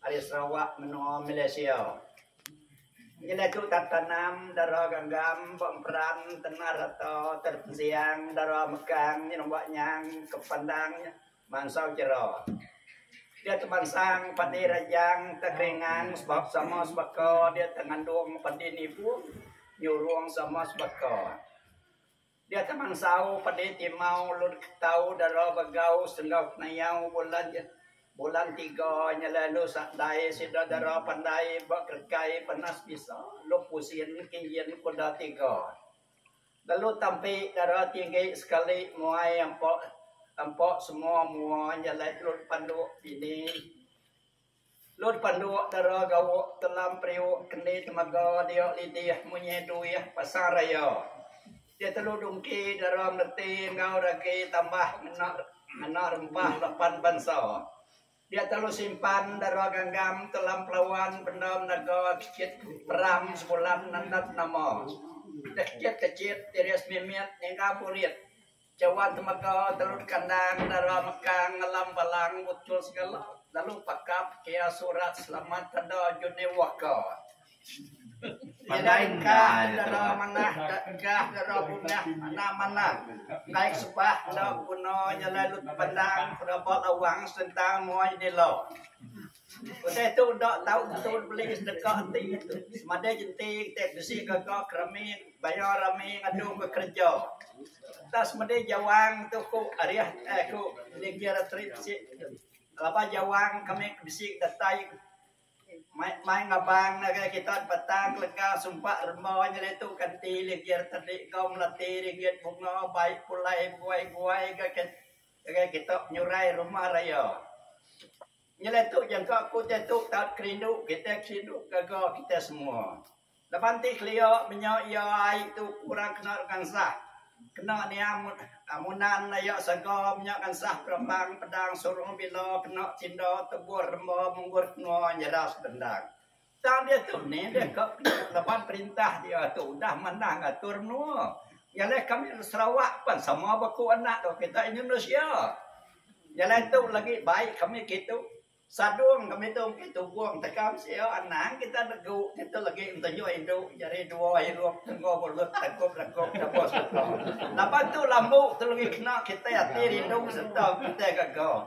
Ari Sarawak menoa Malaysia. Nyadi tu tak tanam dara ganggam ba emperan tengah rata terep ensiang dara mekang nyenok ba nyang ke pandang mansau jera. Dia tu mansang padi rajang tak keringang sebab sama sebaka dia tak ngandung padi nipung nyurung sama sebaka. Dia tang mansau padi timau ulun ke tau dara begau senggau penayau bulan ja bulan tiga nya lalu sa dai sida dara pandai ba kerekai panas bisa luk usin ke nyin kuda tiga. Lalu tampi dara tinggi sekali muai ampa ampa semua mua nya alai ulun panduk dini. Lun panduk dara gauk telam periuk kendi temaga dia lidih munyi duih pasar raya. Dia telu dungki dara meleti enggau ragi tambah ngena ngena rempah lapan bansa. Dia telu simpan dara ganggam telam pelawan benda menaga kecit peram sebulan nandat nama. Deh kecit-kecit diri semimit niga burit. Jawa temeka telun kandang dara mekang ngelam balang butul segala lalu pakap kea surat selamat tada Johnny Walker. Pandai engkah dara manah da engkah dara bungah mana mana endai sebah enda beguna jalai lut pandang peraba lawang sentang muai dila. Utai tu udah tau tentu beli sedekah enti semadi ji enti kitai bisi gaga ke rami baya rami ngadu ke kereja. Entah semadi ji awang tu ku ariah eh ku Nigie Ratery bisi laban ji awang kami ke bisi datai mai mai ngabang ngagai kita di Batang lega sumpa rema nyadi tu kanti Nigie Ratery enggau melati ringgit bunga bai pulai guai-guai ngagai kita penyurai rumah raya. Nyelai tu jangka ku diatu taut kerindu kitai kerindu gaga kitai semua. Laban ti kelia menya ia ai tu kurang kena ngansah kena niang munan aya saga menya ngansah peremang pedang surung bila kena tinda tebur remba munggur tengua nyera sebendang. Tang diatu nih dia ka penyu laban perintah dia tu udah manah ngatur menua. Jalai kami orang Sarawak pan sama beku anak dua kita Indonesia. Jalai tu lagi baik kami kitu. Sadung kami tu engki tubung teka mesia anang kita negu kitu lagi ntenyuk indu jari dua hirup tenggo mulut tengkup lengkup debus sereta. Laban tu lambu tu lagi kena kitai ati rindu sereta kitai gaga.